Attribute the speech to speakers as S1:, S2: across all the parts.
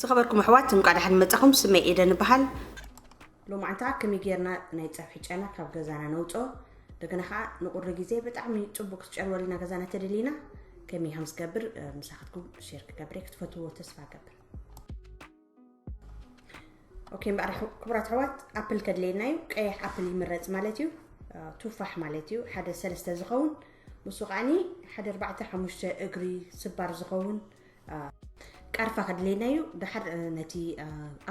S1: ዝኸበርኩም ኣሕዋት እንቋዕ ደሓን መጻኹም። ስመይ ኤደን እበሃል። ሎማዕንታ ከመይ ጌርና ናይ ጸብሒ ጨና ካብ ገዛና ነውጽኦ እንደገና ከዓ ንቁሪ ግዜ ብጣዕሚ ጽቡቅ ክትጨርወልና ገዛና ተደሊና ከመይ ከም ዝገብር ምሳኻትኩም ሼር ክገብር ክትፈትዎ ተስፋ ገብር ኦኬ እምበኣር ክቡራት ኣሕዋት ኣፕል ከድለየና እዩ ቀይሕ ኣፕል ይምረፅ ማለት እዩ ቱፋሕ ማለት እዩ ሓደ ሰለስተ ዝኸውን ንሱ ከዓኒ ሓደ ኣርባዕተ ሓሙሽተ እግሪ ስባር ዝኸውን ቃርፋ ከድልየና እዩ ድሓር ነቲ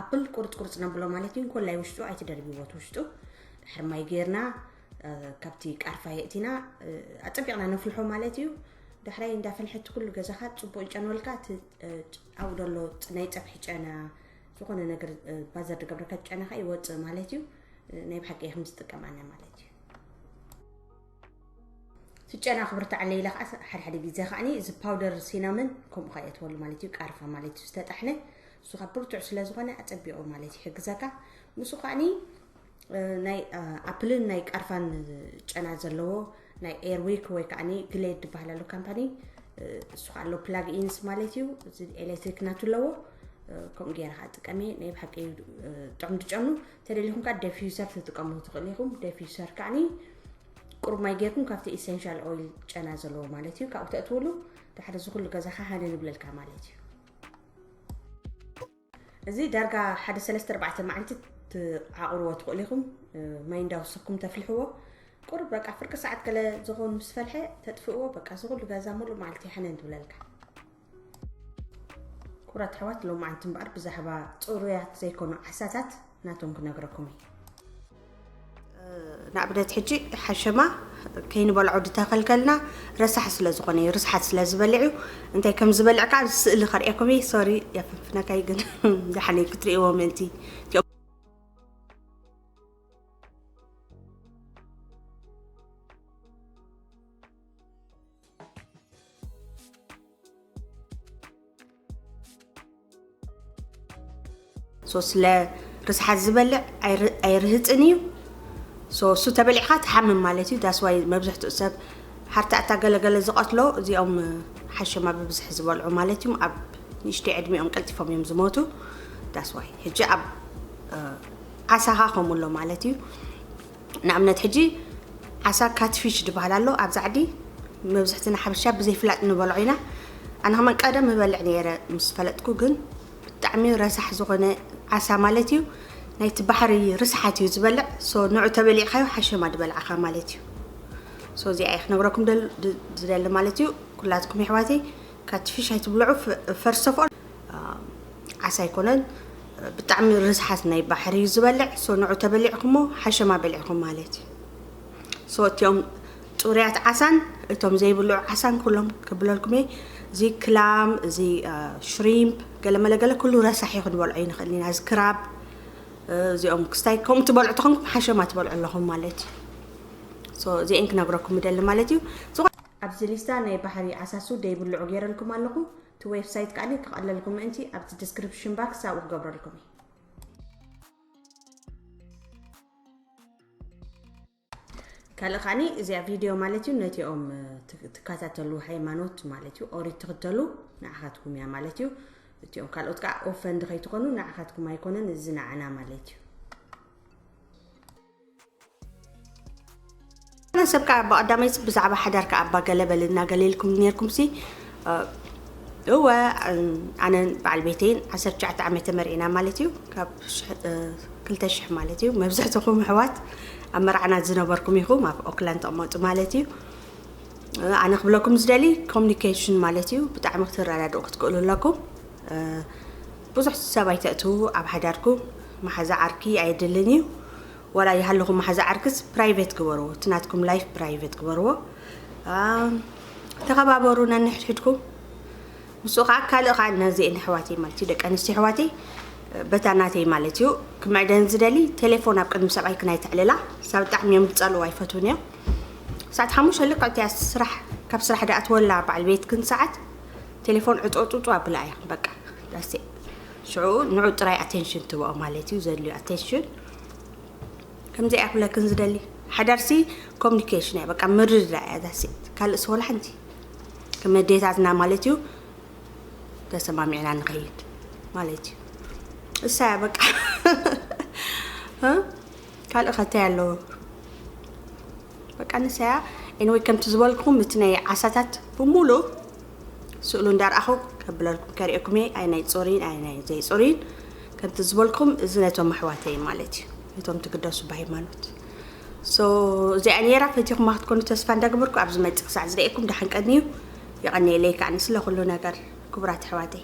S1: ኣፕል ቁርፅ ቁርፅ ነብሎ ማለት እዩ እንኮላይ ውሽጡ ኣይትደርብዎት ውሽጡ ድሕር ማይ ገይርና ካብቲ ቃርፋ የእቲና ኣፀቢቕና ነፍልሖ ማለት እዩ ድሕራይ እንዳፈልሐቲ ኩሉ ገዛኻ ፅቡቅ ይጨንወልካ እቲ ኣብኡ ዘሎ ናይ ፀብሒ ጨና ዝኾነ ነገር ባዘር ድገብረካ ጨናኻ ይወፅእ ማለት እዩ ናይ ብሓቂ ከም ዝጥቀም ኣነ ማለት እዩ ፍጨና ክብርታዓለይ ኢለ ከኣ ሓደ ሓደ ግዜ ከኣ እዚ ፓውደር ሲናምን ከምኡ ከኣ የእትወሉ ማለት እዩ ቃርፋ ማለት እዩ ዝተጣሕነ እሱ ካብ ብርቱዕ ስለ ዝኾነ ኣጸቢቑ ማለት ይሕግዘካ ንሱ ከኣ ናይ ኣፕልን ናይ ቃርፋን ጨና ዘለዎ ናይ ኤርዊክ ወይ ከዓ ግሌድ ዝበሃል ኣሎ ካምፓኒ እሱ ከዓ ኣሎ ፕላግ ኢንስ ማለት እዩ እዚ ኤሌክትሪክ ናቱ ኣለዎ ከምኡ ገይረ ከዓ ጥቀሚ ናይ ብሓቂ ጥዑም ድጨኑ ተደሊኹም ከዓ ደፊዩሰር ትጥቀሙ ትኽእሉ ኢኹም ደፊዩሰር ከዓኒ ቁሩብ ማይ ጌርኩም ካብቲ ኢሰንሻል ኦይል ጨና ዘለዎ ማለት እዩ ካብኡ ተእትውሉ ድሕሪ እዚ ኩሉ ገዛኻ ሃነ ንብለልካ ማለት እዩ እዚ ዳርጋ ሓደ ሰለስተ ኣርባዕተ መዓልቲ ትዓቑርዎ ትኽእሉ ኢኹም ማይ እንዳወሰኩም ተፍልሕዎ ቁሩብ በቃ ፍርቂ ሰዓት ገለ ዝኾኑ ምስ ፈልሐ ተጥፍእዎ በቃ እዚ ኩሉ ገዛ ሙሉእ መዓልቲ ይሓነ ንብለልካ ክቡራት ኣሕዋት ሎማዓንቲ እምበኣር ብዛዕባ ፅሩያት ዘይኮኑ ዓሳታት ናቶም ክነግረኩም እዩ ንኣብነት ሕጂ ሓሸማ ከይንበልዖ ድተኸልከልና ረሳሕ ስለ ዝኾነ እዩ ርስሓት ስለ ዝበልዕ እዩ እንታይ ከም ዝበልዕ ከዓ ስእሊ ከርእየኩም እየ ሶሪ የፍንፍነካይ ግን ዛሓነ ክትርእይዎ ምእንቲ ሶ ስለ ርስሓት ዝበልዕ ኣይርህፅን እዩ ሶ እሱ ተበሊዕካ ትሓምም ማለት እዩ ዳስዋይ መብዝሕትኡ ሰብ ሓርታዕታ ገለገለ ዝቐትሎ እዚኦም ሓሸማ ብብዝሒ ዝበልዑ ማለት እዮም ኣብ ንእሽቶ ዕድሚኦም ቀልጢፎም እዮም ዝሞቱ ዳስዋይ ሕጂ ኣብ ዓሳኻ ከምኡሎ ማለት እዩ ንኣብነት ሕጂ ዓሳ ካትፊሽ ድበሃል ኣሎ ኣብዛ ዓዲ መብዝሕትና ሓበሻ ብዘይፍላጥ ንበልዖ ኢና ኣነ ከማን ቀደም እበልዕ ነይረ ምስ ፈለጥኩ ግን ብጣዕሚ ረሳሕ ዝኾነ ዓሳ ማለት እዩ ናይቲ ባሕሪ ርስሓት እዩ ዝበልዕ ሶ ንዑ ተበሊዕካዮ ሓሸማ ድበልዓኻ ማለት እዩ ሶ እዚኣ እየ ክነግረኩም ዝደሊ ማለት እዩ ኩላትኩም የሕዋተይ ካትፊሽ ኣይትብልዑ ፈርስት ኦፍ ኦል ዓሳ ኣይኮነን ብጣዕሚ ርስሓት ናይ ባሕሪ እዩ ዝበልዕ ሶ ንዑ ተበሊዕኩሞ ሓሸማ በሊዕኩም ማለት እዩ ሶ እቲኦም ፅሩያት ዓሳን እቶም ዘይብልዑ ዓሳን ኩሎም ክብለልኩም እየ እዚ ክላም እዚ ሽሪምፕ ገለመለ ገለ ኩሉ ረሳሒ ክንበልዖ ይንኽእል ኢና እዚ ክራብ እዚኦም ክስታይ ከምኡ ትበልዑ ተኾንኩም ሓሸማ ትበልዑ ኣለኹም ማለት እዩ እዚአን ክነግረኩም ይደሊ ማለት እዩ ኣብዚ ሊስታ ናይ ባሕሪ ዓሳሱ ደይብልዑ ገይረልኩም ኣለኹ እቲ ዌቭሳይት ከኣኒ ክቐለልኹም ምእንቲ ኣብቲ ድስክርፕሽን ባክስ ኣብኡ ክገብረልኩም እየ። ካልእ ከኣኒ እዚኣ ቪድዮ ማለት እዩ ነቲኦም ትከታተሉ ሃይማኖት ማለት እዩ ኦሪት ትኽተሉ ንዓኻትኩም እያ ማለት እዩ እቲኦም ካልኦት ከዓ ኦፈንድ ከይትኾኑ ንዓኻትኩም ኣይኮነን እዚ ንዓና ማለት እዩ ሰብ ከዓ እባ ቀዳመይ ብዛዕባ ሓዳርካ እባ ገለ በለና ገለ ኢልኩም ነርኩምሲ እወ ኣነን በዓል ቤተይን 19 ዓመት ተመሪዕና ማለት እዩ ካብ 2000 ማለት እዩ መብዛሕትኹም ኣሕዋት ኣብ መርዓና ዝነበርኩም ኢኹም ኣብ ኦክላንድ ተቕመጡ ማለት እዩ ኣነ ክብለኩም ዝደሊ ኮሚኒኬሽን ማለት እዩ ብጣዕሚ ክትረዳድኡ ክትክእሉ ኣለኩም ብዙሕ ሰብ ኣይተእትዉ ኣብ ሓዳርኩ ማሓዛ ዓርኪ ኣየድልን እዩ ዋላ ይሃልኹም ማሓዛ ዓርክስ ፕራይቨት ግበርዎ እቲ ናትኩም ላይፍ ፕራይቨት ግበርዎ ተኸባበሩ ነንሕድሕድኩ ምስኡ ከዓ ካልእ ከዓ ነዚኤን ኣሕዋተይ ማለት እዩ ደቂ ኣንስትዮ ኣሕዋተይ በታ ናተይ ማለት እዩ ክምዕደን ዝደሊ ቴሌፎን ኣብ ቅድሚ ሰብኣይ ክናይ ትዕልላ ሳብ ብጣዕሚ እዮም ዝፀልኡ ኣይፈትውን እዮም ሰዓት ሓሙሽተ ልክዕ እቲያ ስራሕ ካብ ስራሕ ዳኣትወላ በዓል ቤትክን ሰዓት ቴሌፎን ዕፆፁፁ ኣብላ እያ በቃ ዳሴ ሽዑ ንዑ ጥራይ ኣቴንሽን ትበኦ ማለት እዩ ዘድልዩ ኣቴንሽን ከምዚኣ ክብለክን ዝደሊ ሓዳርሲ ኮሚኒኬሽን እያ በቃ ምርድዳ እያ ዳሴ ካልእ ሰወላ ሓንቲ ከመዴታትና ማለት እዩ ተሰማሚዕና ንኸይድ ማለት እዩ እሳ እያ በቃ ካልእ ከታይ ኣለዎ በቃ ንሳያ ኤንወይ ከምቲ ዝበልኩም እቲ ናይ ዓሳታት ብሙሉ ስእሉ እንዳርኣኹ ከብለልኩም ከሪኤኩም እየ ኣይ ናይ ፆሪን ኣይ ናይ ዘይፆሪን ከምቲ ዝበልኩም እዚ ነቶም ኣሕዋተይ ማለት እዩ ነቶም ትግደሱ ብሃይማኖት እዚኣ ነራ ፈቲኹማ ክትኮኑ ተስፋ እንዳገበርኩ ኣብ ዝመፅእ ክሳዕ ዝርእየኩም ዳሓን ቀንዩ የቐኒየለይ ከዓኒ ስለ ኩሉ ነገር ክቡራት ኣሕዋተይ